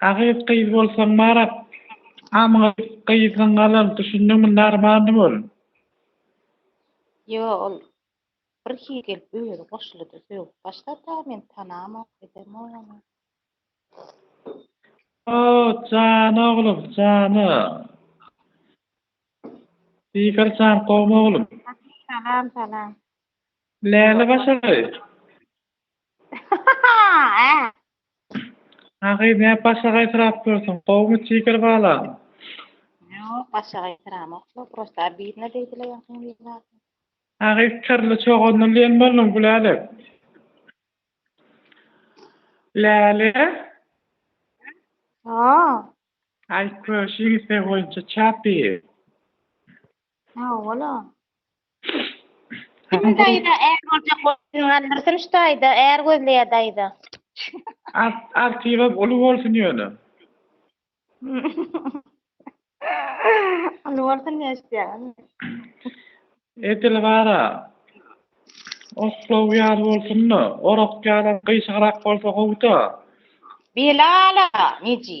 Agyz gyz bolsaň marat amgyz gyzyň galan düşündiňmi narmandy bol. Ýo ol bir hili gelip özi goşulyda sögüp başlada men tanamok edemok ony. Hoo jan oglum jana. Diýger jan gowmy oglum. Salam salam. Läle başary. Ha gyz näme başga gaýsyrap dursuň gowumy jiger balam. Ýok başga gaýsyramok bu prosta obidno beýdile ýaňkyň widosy. Ha gyz kirli çogandan lem bolduň Gülälek. Läle. Hoo. Aý köşüň isegi boýunça çap diýip. Sag boluň. Hany daýza är boljak bolsun galdyrsyn şu taýda är gözleýär daýza. Artibem uly bolsun ýöne. Uly bolsun diýip eşitýäňiz. Edil gara oklaw ýaly bolsunda orak ýalam gyşygrak bolsa gowuda. Belala neji.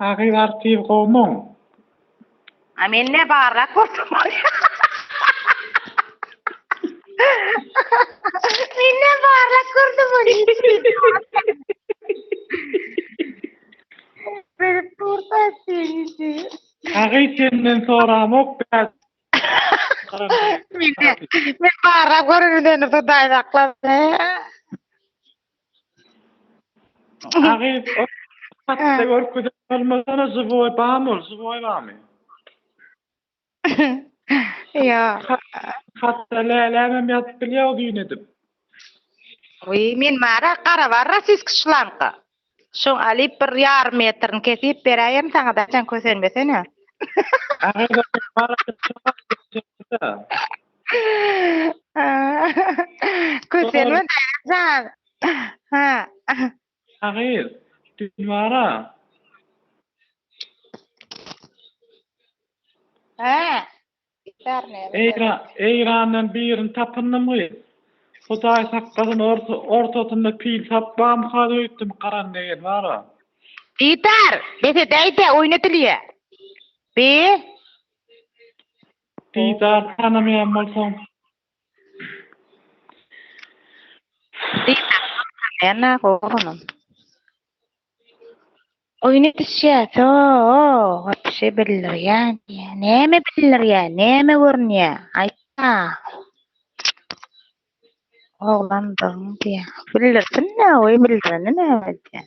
Ahyr artyz gowmyň. A mende barrak bolsa bolýa. Menden barrak görse bolýa. Berip dursa seni. Ahyr senden soramok bä. Men barrak göründen hudaý saklasyn. Agyz hatda görkezen bolmasana żywoý bamy ol żywoý bamy. Ýok. Hatda lälämem ýazyp bilýär o düýn edip. Wiý men mara gara bar rasisk şlanka. Şoň alyp bir ýarym metrini kesip beräýerin saňa daçan kösenmesene. Kösenme daýanjan. Ha. Şahyr, dilwara. Hä. Eýrandan birini tapyndym gyz. Hudaý saklasyn ortasynda pil sap bamka öýtdüm garan degen bara. Diýdar, bes edäýdä oýun edilýä. Bi. Didar tanamaýan bolsaň. Didar tanamaýan naga oglanam. Oýun edişýäs o wapşe bildirýän diýýä näme bildirýä näme görünýä aýtda oglandygyň diýýä bildirsin näoý bildireni näme edýän.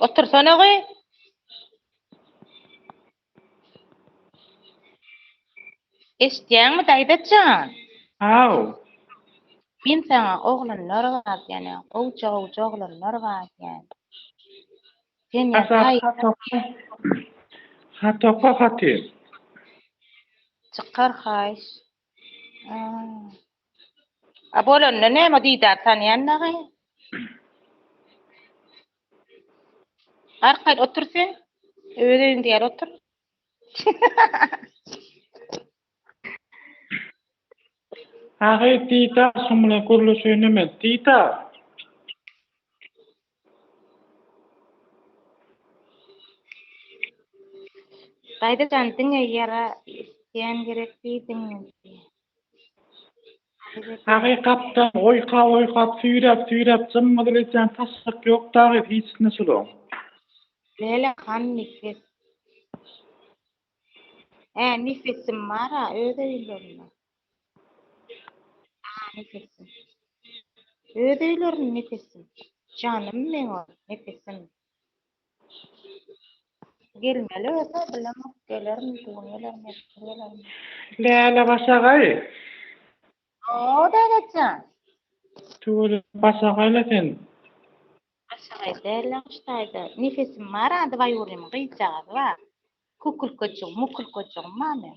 Otursana gyz. Eşitýäňmi daýza jan? Haw. Men saňa oglanlar bar diýýän, gowja gowja oglanlar bar diýýän. Sen ýa daýy. Hat oka. Hat oka haty. Çykar haýyş. A bolanda näme didar tanýan dagy. Arkaýyn otur sen. Öz öýüňde ýaly otur. Agy didar şum bilen gürleşeýin näme didar. Daýza jan diňe ýara isleýän gerek diýdiňmi diýýä. Hakykatdan oýkap oýkap süýräp süýräp jymmydyr etýän taşşak ýok dagy hiç nyslo. Lele han nifis. Hä nifisim bar-a öz öýlerinde. Aaa Nepesim. Öz öýlerin Nepesim. Janym meň ol Nepesim. Gelmeli bolsa bilemok gelermi bu gün gelermi ertir gelermi. Läle başagaý. Hoo Dädetjan. Tüweleme başagaýla sen. Başagaý däl ýagşy taýda. Nepesim bar a dwaýurnymy gyzjagazy bar. Kukulkajygym mukulkajygym bar meň.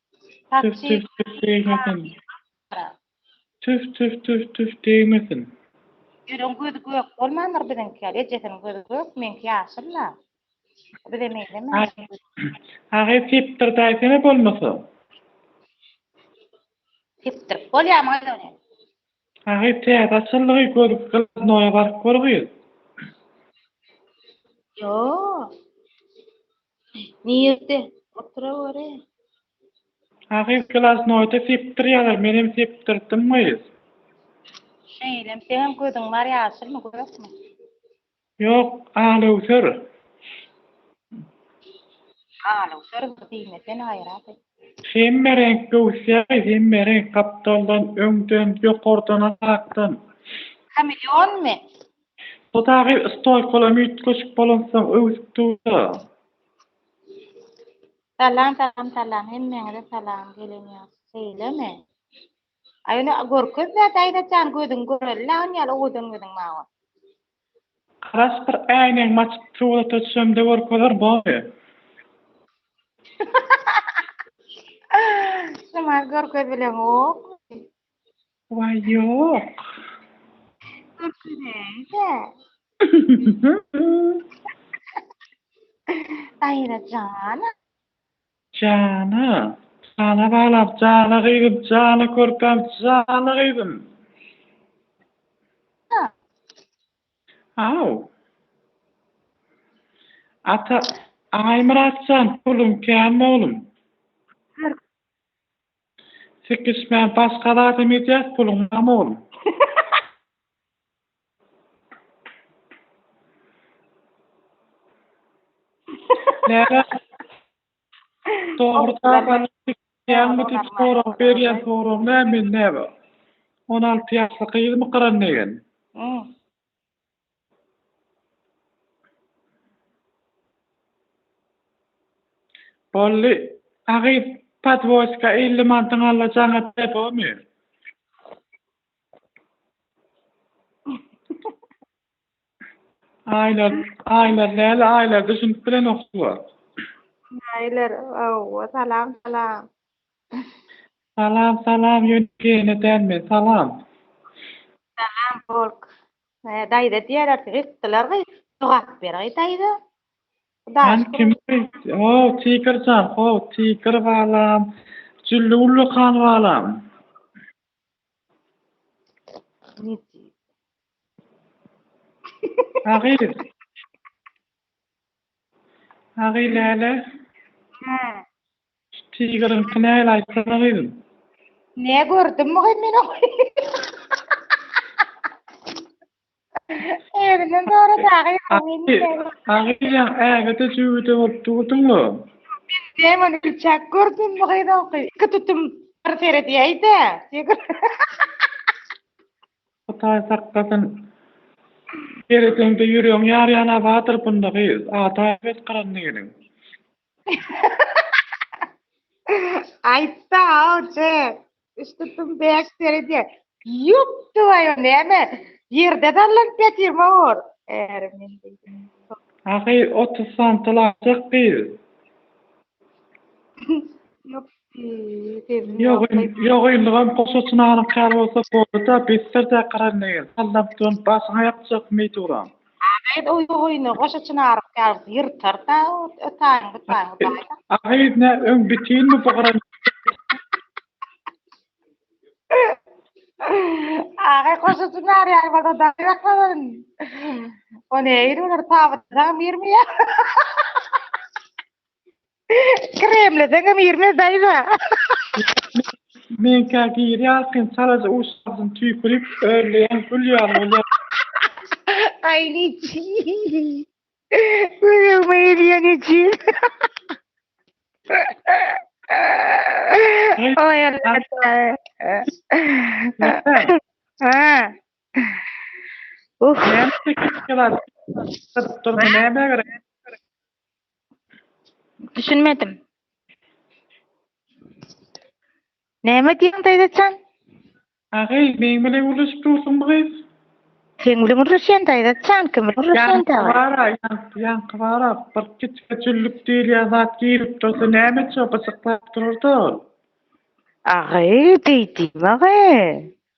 Tüf tüf tüf degmesin. Tüf tüf tüf tüf degmesin. Ýüregiň gözi gök bolmandyr biziňki ýaly. Ejesiniň gözi gök, meňki ýaşyl-la. Bize meňzemeýär. Agy sepdirdaýsene bolmasa. Sepdirip bolýamy gyz ony? Agy täze açyldy gyz, gladnoýa baryp gör gyz. Ýok. Nirde? Otura göre. Ahyr glasnoýda sepdir ýalar, menem sepdirtdim gyz. Şeýlem, seňem gözüň bar ýaşylmy, gökmi? Ýok, alöwser. Alöwser diýmesene aýyrady. Hemme reňk göwüsýa gyz, hemme reňk, gapdaldan, öňden, ýokardan, aşakdan. Kameleonmy? Bu dagy stolkolam üýtgeşik bolansoň öwsüp durda. Salam salam salam hemmeňize salam gelen ýaşy şeýlemi aý ony görkezme daýzajan gözüň göreli lagyn ýaly owadan gözüň mawa. Garaş bir äýnegimi açyp surata düşemde görkezer bary. Şumaý görkezileniokmy. Waý ýok. Görkezäýse. Daýra jana. Jana. Jana balam, jana gyzym, jana körpäm, jana gyzym. Haw. Ata Aýmyratjan puluň kän oglum. Sikişmän başga zadam edýäs puluň name oglum. Läle dogry dabara sikişýäňmi diýip sorag berýän sorag näme men näme on alty ýaşly gyzmy gyran degen. Boldy. Agy podwoska elli mantyň alla jaňa depomy? Aýlar, aýlar däl, aýlar düşünip bilenok suwa. Näler, hawa, salam, salam. Salam, salam, ýöne gene däl men, salam. Salam, polk. He daýza diýerler ki gytdylar gyz jogap ber gyz daýza. Sen kim gyz how tiger jan how tiger balam jülli ullakan balam. Ha gyz. Ha gyz lele. He. Tigerňki näl aýtsana gyzym. Nä gördüm mugym men ony. Özünden soradyň agyz. Agyzjan ägede jübüde bolup durdyňa. Menem ony biçak gördüm bu gyzyňky iki tutum bir seredýäýdä. Hudaý saklasyn. Seredeňde ýüregiň ýarýana bardyr bunda gyz. Ata bet gyrandy geliň. Aýtda awje. Üstüpim beş derede. Ýok duwaýo näme? Ýerde dallanyp ýatyrma or. Ärim men diýdim. Ahyr otuz santyl aljak gyz. Ýok Ýok, ýok indibam goşa çynagynyň käri bolsa boldy-da, bessir dä gyran degil. Sallam dön, başyňa ýapjak meý duran. Agyz oý oýna, goşa çynaryň käri ýyrtar-da, ötäýiň bytaýyň baý-da. Agyz nä, öň bitinmi bu gyran degil. Agyz goşa çynar ýaly bolsa dagy ýakladyn. O nähili bolar, tabytda dagy birmi ýa? Kremleden hem girmez daýza. Men kä gir ýalkyn çalaja uşagyň tüýkürip örleýän gül ýaly bolýar. Ay niçi. Gözüm eýilýän için. Ay Allah. Ha. Uf. Näme çekip gelar? Dur, dur, näme gerek? Düşünmedim. Näme diýiň daýzajan? Agaý, meň bilen gürleşip dursuňmy gyz? Seň bilen gürleşýän daýzajan, kim bilen gürleşýän dagy? Ýaňky bar-a, ýaňky, ýaňky bar-a, bir kiçijek jüllük diýilýän zat girip durdy, näme üçin gyjyklap durar-da ol? Agaý, diýdim, agaý.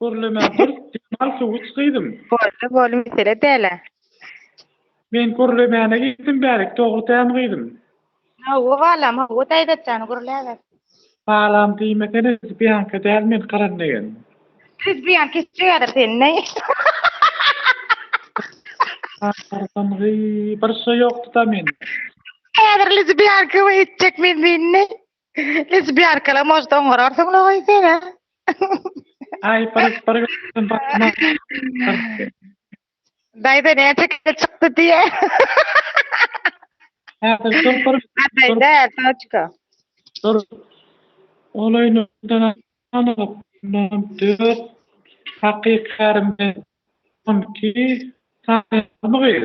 Gürlemän dur, dem al, suw iç gyzym. Boldy, boldy, mesele däl-ä. Men gürlemäne gitdim bärek, dogry dämi gyzym? Hawa, balam, hawa, Daýzat jan, gürläber. Balam diýmesene, lezbiýanka däl men, gyran degen. Lezbiýanka içýärdir seni, näý? Agyrdyňyý, bir şy ýokdy-da mende. Häzir lezbiýanka we içjek men seni, näý? Hiç bir arkalam ožda oňararsyň la goý sen-ä. Aý bir bir gün bakma. Daýza näçe kile çykdy diýe. Häzir dur bir. Adaý däl Soçka. Dur. Ol öýünden anyk ondan dört hakyky kärim bilen on iki sany gyz.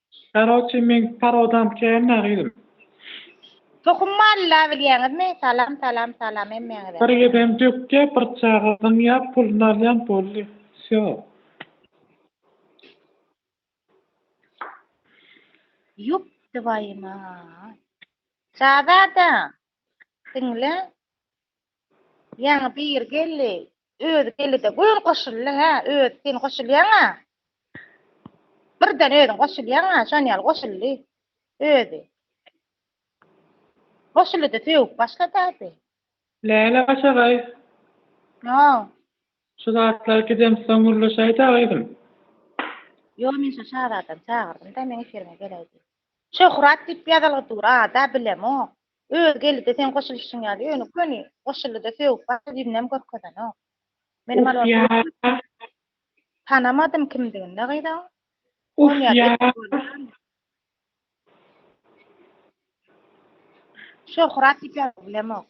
Karoçi meň parodam kända gyzym. Tohum maly la bilýäňizmi. Salam salam salam hemmäňize. Bir gedem dökýä bir çaga zyňýa pulun alýan boldy wsýo. Ýup dwaýumaat. Şazada. Diňle. Ýaňy biri geldi. Özi geldi-de, göni goşuldy-hä, özi sen goşulýaň-a. Birden özüň goşulýaň-a, şon ýaly goşuldy özi. Goşuldy-da, sögüp başlady-ady. Läle başagaý. Ýow. Şu zatlar gidemsoň gürleşäý-dä, gyzym. Ýow, men şo şazadany çagyrdym-da, meň efiriňe geläý diýip. Şöhrat diýip ýazylgy dur, ad-a bilemok. Özi geldi-de seň goşulyşyň ýaly, ýöne köni goşuldy-da sögüp başga birinem görkezenok. Menem alorda tanamadym kimdigini-de gyzyň. Uf ýa. Şöhrat diýip ýazyp bilemok.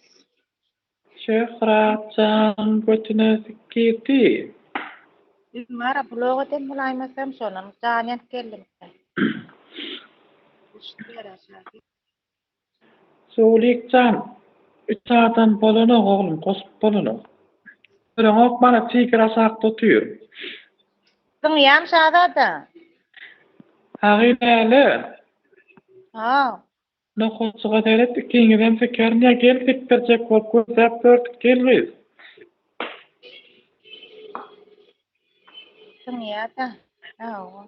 Şöhrat jan götüne sik girdi. Gülnara blog edem bolaýmasam şonam jan ýanyp geldim. Sowulyk jan üç adam bolanok oglum goşup bolanok. Göreňok mana tiger aşakda otyr. Zyňýan şazada. Hagy näle. Sag. Nohurjyga seret ikiňizem sekerin ýa gel sekdirjek bolup gözläp gördük gel gyz. Zyňýada. Sag bol.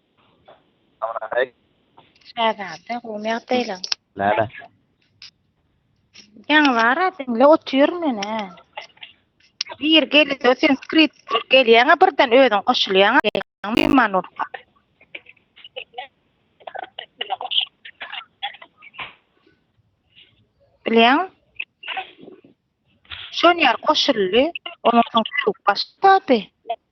Amanay. Şägärde gowy ýagdaýlar. Näme? Ýaňy bar diňle otur menä. Bir gel, sen skript gelýäňä birden özüň goşulýaň. Meýman ol. Bilýän? Şon ýer goşuldy. Onuň soň başlady.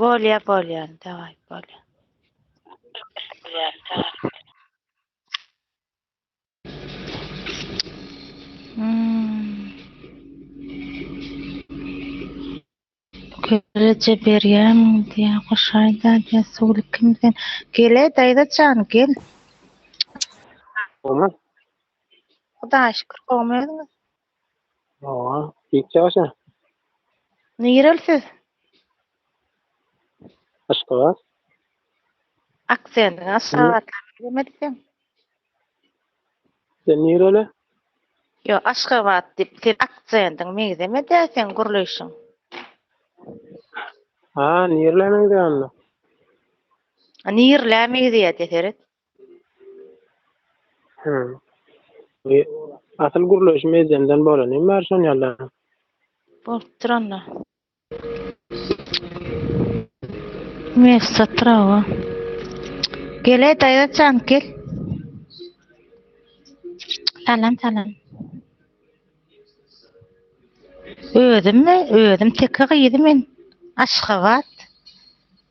Bolýa bolýa daway bolýa. Geleje berýäň diýä goşaýda diýä suwly kim sen gele daýza jan gel. Oňa. Hudaýa şükür gowmy özüňiz? Oha, hiç ýagşy. Nirel siz? Aşgabat. Akseniň aşgabatly gelmedi sen. Sen nireli? Yo, Aşgabat diýip sen akseniň meňzemedi sen gürleýşiň. Ha, nirele meňzeýändir. Nirle meňzeýär deseret. Hmm. E, Asyl gürleşim ejemden bolany bar şon ýaly. Bolupdyr onda. Mewsat trawa. Gele daýza jan gel. Salam salam. Özüm mi? Özüm teke gyzy men. Aşgabat.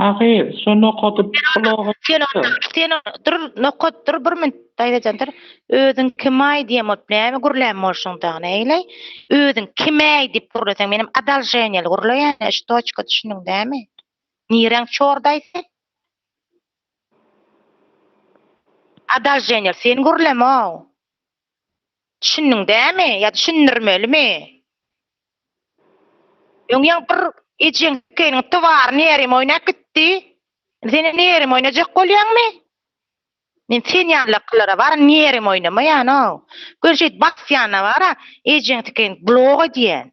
Ahyr, şo nokady bloga ýazyp. Sen onda, dur, nokat, dur, bir minut, daýzajan, dur. Özüň kimaý diýen bolup näme gürlän bolşuň dagyny, eýle? Özüň kimäý diýip gürleseň, menem adalženýeli gürleýän-ä, ştoçka, düşündiň dämi? Nireň çordaý sen? Adalženýeli sen gürleme-ow! Düşündiň dämi ýa düşündirmelimi? Öň ýa bir ejeň keniň towaryny ýerim oýnap gitdi. Indi sen ýene ýerim oýnajak bolýaňmy? Men sen ýalylara baryn ýerim oýnamaýan-ow. Gör şeýt basýana bara ejeň tikin blok edýän.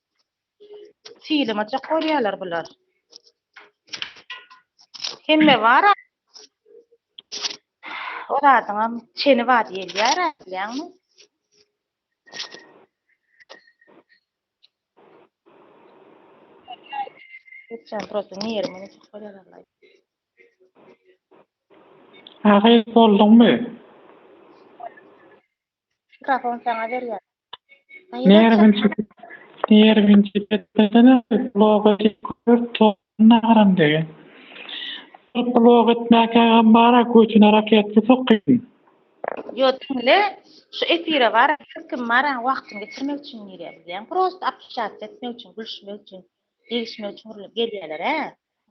Silime çak bolýarlar bular. Hemme bar. O zadyňam çeni bar diýilýär, bilýäňmi? Geçen prosto nirmi çak bolýarlar. Agyz bolduňmy? Mikrofon sana berýär. Nervinçik, nervinçik etmesene, bloga gör, tolgunna haram degen. Bir blog etmäkä gam bara, götüne raketki sokýyn. Ýo diňle, şu efire baran her kim baran wagtyny geçirmek üçin girýär, bizem prosta apişasiýa etmek üçin, gülüşmek üçin, degişmek üçin urulyp gelýäler-ä.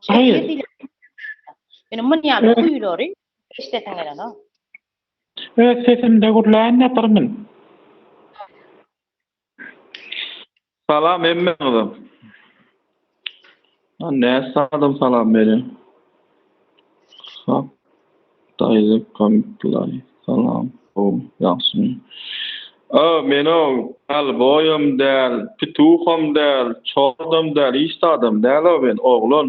Şu efir diýlen zat, ýöne muny ýaly guýulary eşidesim gelenok. Öz sesimde gürläýin-de birmn. Salam hemmäňize. Näçe adam salam berýär. Hak daýza komplay salam gowy ýagşymy. Öö men-o Dalboýam däl, Pituham däl, Çordam däl, hiç zadam däl-o men oglan.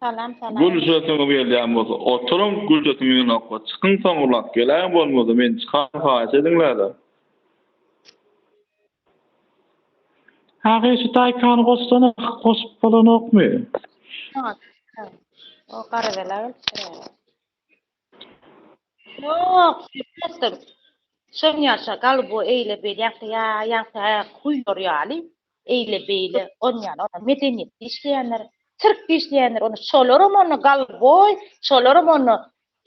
Salam salam. Gül sesiňiz gelýän bolsa oturyň gül sesiň ýygnakka çykyň soň ulag geläň bolmasa men çykan haýyş ediňlerde. Haýşy daýkany goşsana goşup bolanokmy. Ýok ýok o gara bela gelipdir. Ýok, bilmezdim. Şoň ýaşa galyp bu eýle beýle ýa ýa ýa ýa kuýur ýaly eýle beýle on ýaly ona medeniýet dişleýänler, sirk dişleýänler onda şolaram onda galboý, şolaram onda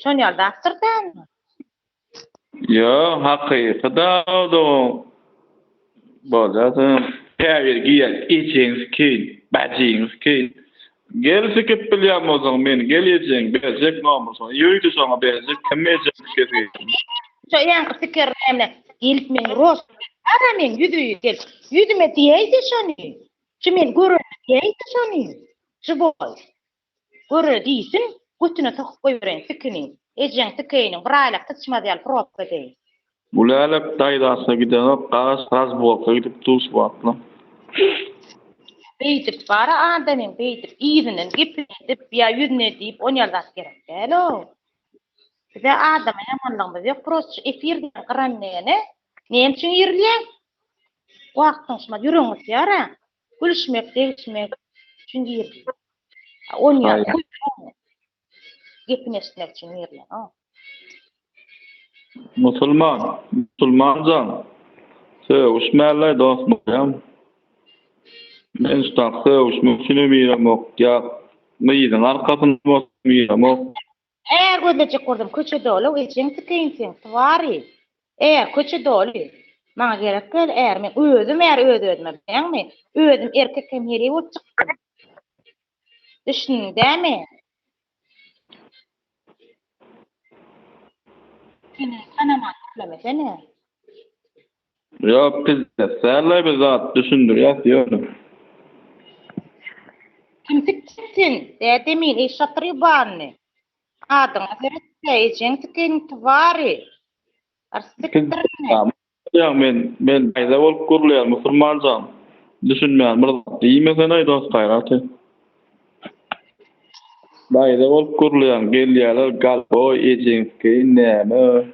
şon ýaly zatdyr dälmi? Ýok, hakyky dagy-da o. Bolýada. Käbir giýen ejeňiz kyn, bäjeňiz kyn. Gel sikip bilýän bolsaň meni gel ejeň berjek nomusyňy ýöýde şoňa berjek kim ejeň kesgitini. Şo ýaňky siker näme gelip meň rost ara meň ýüzi gel ýüzüme diýäýdi şony şu meni görende diýäýdi şony şu boý. Göre diýsin, götüne sokup goýbereýin sikini. Ejeň sikeýiniň bir aýlap syçmaz ýaly probka deý. Gülälek daýzasyna gidenok, garaz razborka gidip duş wagtlam. Beýdip bara adamyň beýdip yzyndan gepledip ýa ýüzüne diýip on ýaly zat gerek däl-ow. Bize adama ýamanlygymyz ýok prosta efir diýen gyran degene näme üçin ýerlýäň? Wagtyň şumat ýüregiň gysýar-a. Gülüşmek, degişmek üçin girdi. Onýan köýnekmi? Gepini eşitmek üçin girdi. Musulman, musulman jan, sögüşmäläý dost bolýam. Men şutak sögüşmek üçinem giremok, ýa gyzyň arkasynda bolsam giremok. Hä, gözlejek gurdum, köçe doly-ow ejeň sikeýin seň, twary! Är, köçe doly! Maňa gerek däl är, men özüm är öz-özüme, bilýäňmi? Özüm erkek hem heleý bolup çykdym. Düşündiň dämi? Seni tanaman köplemesene! Ýok pizzas dällaý bir zat düşündirýäs ýöne. Kim tikjek sen dädemin eý şatrybany adyňa seretde ejeň tiken twary ar sikdirine. Ýa men men peýda bolup gürleýän musulmanjam düşünmeýän bir zat diýmesenaý dos gaýraty. Daýza bolup gürleýän gelýäler galboý ejeň tikeýin näme.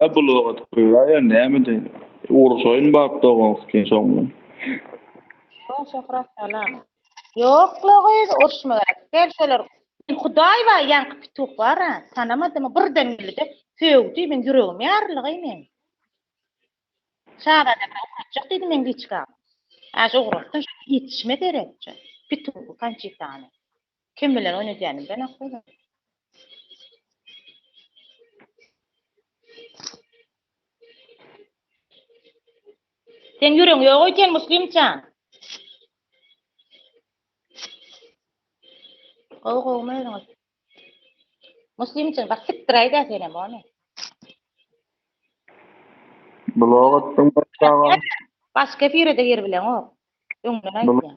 Hä bu logat köýä ýa nämedi? Uruşaýyn bap doganskyn şoň bilen. Soň Şöhrat salam. Ýokla gyz uruşma gerek däl şolar. Hudaý bar ýaňky pituh bar a tanamadym birden geldi-de sögdi meň ýüregim ýaryldy gyz meň. Şazada bilen ugratjak diýdi meň liçkam. Aşa ugratsyn şo ýetişmez erekçe. Pituhy kançitany. Kim bilen oýnadýanymdan aklym Sen ýüregiň ýok öýdýän Muslimjan. Gowy gowy özüňiz. Muslimjan bak sikdiräýdä senem ony. Blog atdyň başga. Başga bire-de gir bileňok. Öňden aýtýan.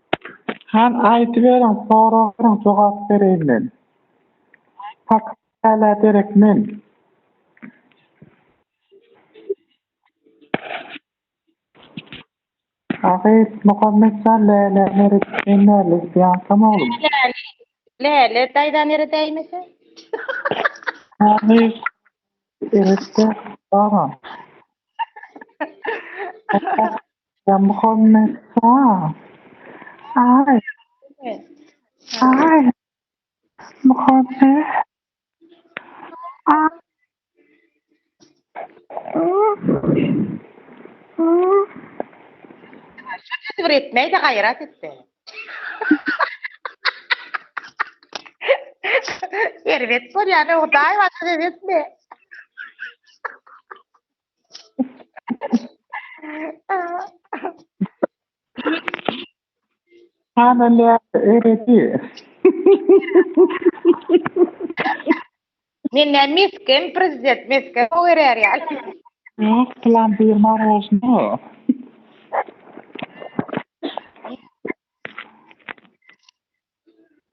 Han aýdyberiň soragyň jogap bereýin men. Pak hälä derek men. Agyz Muhammet jan Läle nere gitmeýin Läle gidýaňkam oglum. Läle daýza nere däýmese. Agyz Elbetde baran. Muhammed Sal. Ay, ay, Muhammed. Ay. Şu bir etmeyi de gayrat etti. Erbet var yani o daima size etme. Hanalýar öredi. Menden mesgen prezident mesgen o erer ýal. Yok plan bir marojno.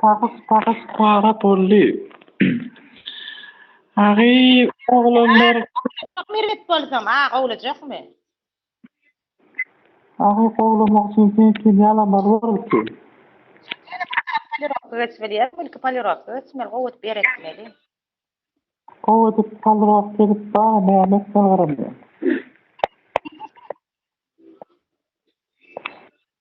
Pagyz pagyz para boldy. Agy oglanlar. Mirwet bolsam aga olajakmy. Agy gowlamak üçin sen kime alamal bolupdy. Ilki polirowka geçmeli gowy edip ýer ekmeli. Gowy edip polirowka edip bar näme etmeli garamyň.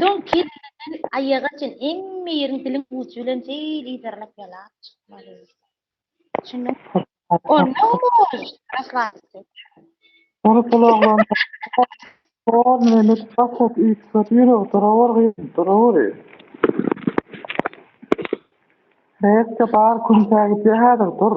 Soň kelleden aýaga çen hemme ýeriň diliň ujy bilen şeýle yzarlap ýalap çykmaly. Düşündiňmi? Onda olar raslaşdy. Ol gulaklaryny ýaýkap, Hor meni gaty üýtgedi, ýüregi duraweri gyzyl, duraweri. Reaksiýa bar, künsägidýär häzir, dur.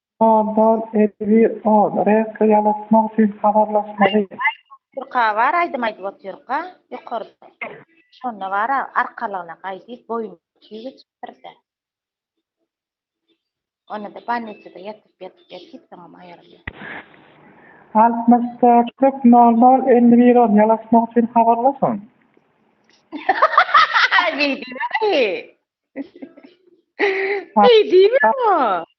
Şaban edebi ol reýkli ýalatmak üçin habarlaşmaly. Aýdypotyrka bar aýdym aýdyp otyrka ýokarda şonda bar arkalygyna gaýdyp boýuny tüý geçipdirde onada balniçada ýatyp ýatyp ýatyp soňam aýrylýar. Altmyş dört köp nol nol elli bir on ýalaşmak üçin habarlaşyň. Beýdiberýi. Beýdiberýi.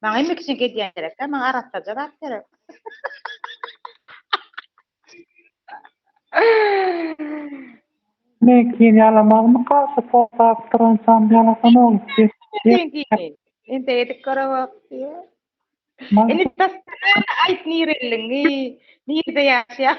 Maňa emmek üçin gedýän gerek-dä, maňa arassaja zat gerek. Men kiýim ýalamagmy gaýşy togtap durançam ýalasan ol diýip. Diýip. Indi edip görewok diýip. Indi tasdan aýt nirelliňi, nirde ýaşaýaň.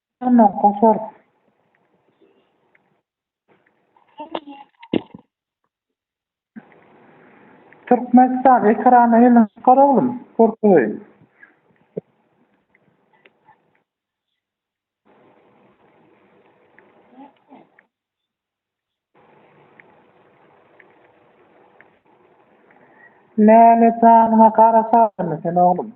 Ýaşandan kaçar. Türkmenistan ekrana elini çykar oglum görkezeýin. Läle janyňa gara çagdyrmy sen oglum.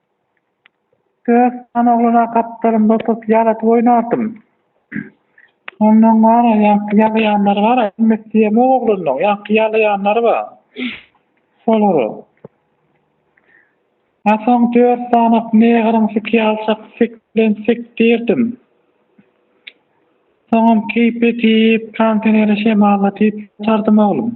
Dört sany oglana gapdalymda oturtyp ýaladyp oýnardym. Ondan bar, ýaňky ýalaýanlary bar, aýtmak isleýemok oglanlaryň, ýaňky ýalaýanlary bar. Şolary. A soň dört sany meýgyryn sikýalçak sik bilen sikdirdim. Soňam keýp edip, kontenere şemalla diýip ýatardym oglum.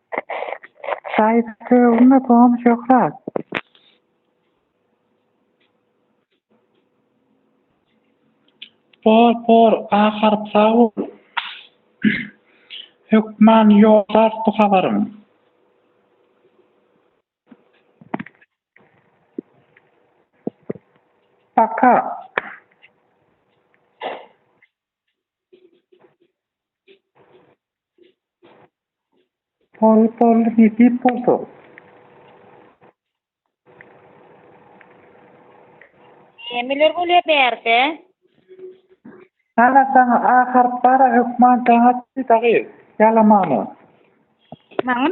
Saýyt sögüme Tom şöhrat. Por por A harp sag bol. Hökman ýollar bu habaryň. Paka. Hol boldy nesip bolsa. Nämeler bolýar bärde? Ana saňa A harp bara hökman daňat dagy ýalamana. Maňa?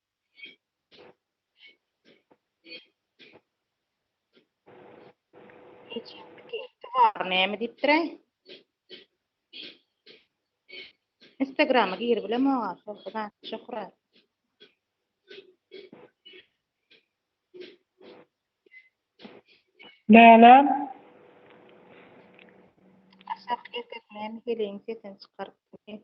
Bar näme diýipdiräý? Instagrama girip bilemok ha, şoňa şöhra. Lälem. Aşak ýekeklän gelin sesini çykaryp.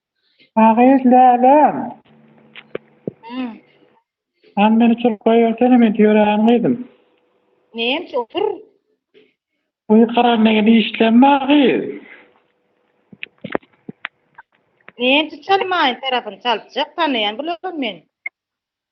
A gyz Läläm. Hä. Hany meni çyryp goýbersene men tüýräýen gyzym. Neýem çyr. Guýy karanda geldi işlem bar gyz. Neýem çyr çalmaýyn tarapyny çalypjak tanaýan bularam men.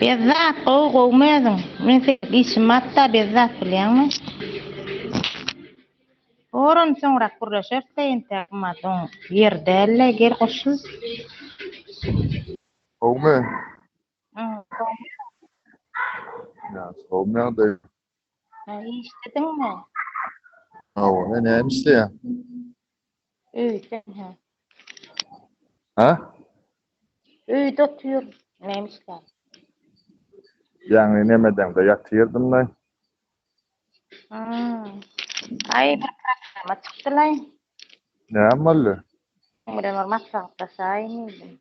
Bezzat gowy gowmy özüň? Men seniň işiň batda Bezzat bilýäňmi? Forum soňrak gürleşeris de entäk mat oň ýeri dälde gel goşul. Gowmy? Gowmy ýagdaýyň? Ha, işlediňmi? Hawa, men näme işleýär? Öýde, ha. Ha? Öýde otyr, näme işleýär? Ýagny nämeden de ýatyrdym da. Ha. Aý, bir programa çykdylaý. Näme boldy? Ömrem bir maslahatlaşaýyn diýdim.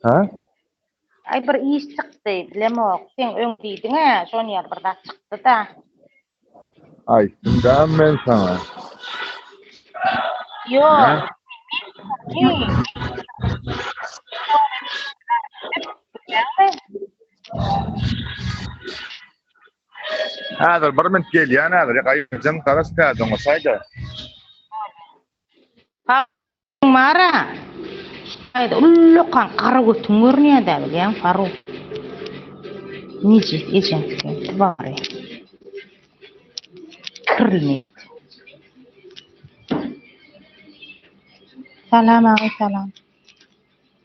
Hä? Aý bir iş çykdy, bilemok. Sen öň diýdiň-ä, şon ýaly bir zat çykdy-da. Aýtdym dämi men saňa? Ýok. Häzir bir minut gelýän häzir gaýyjym garaz pädiňi saýda. Hakyň bara. Saýda ullakan gara götüň görünýädä bilýäň Faruk. Neje ejeň sen bary. Kirli. Salam agy salam.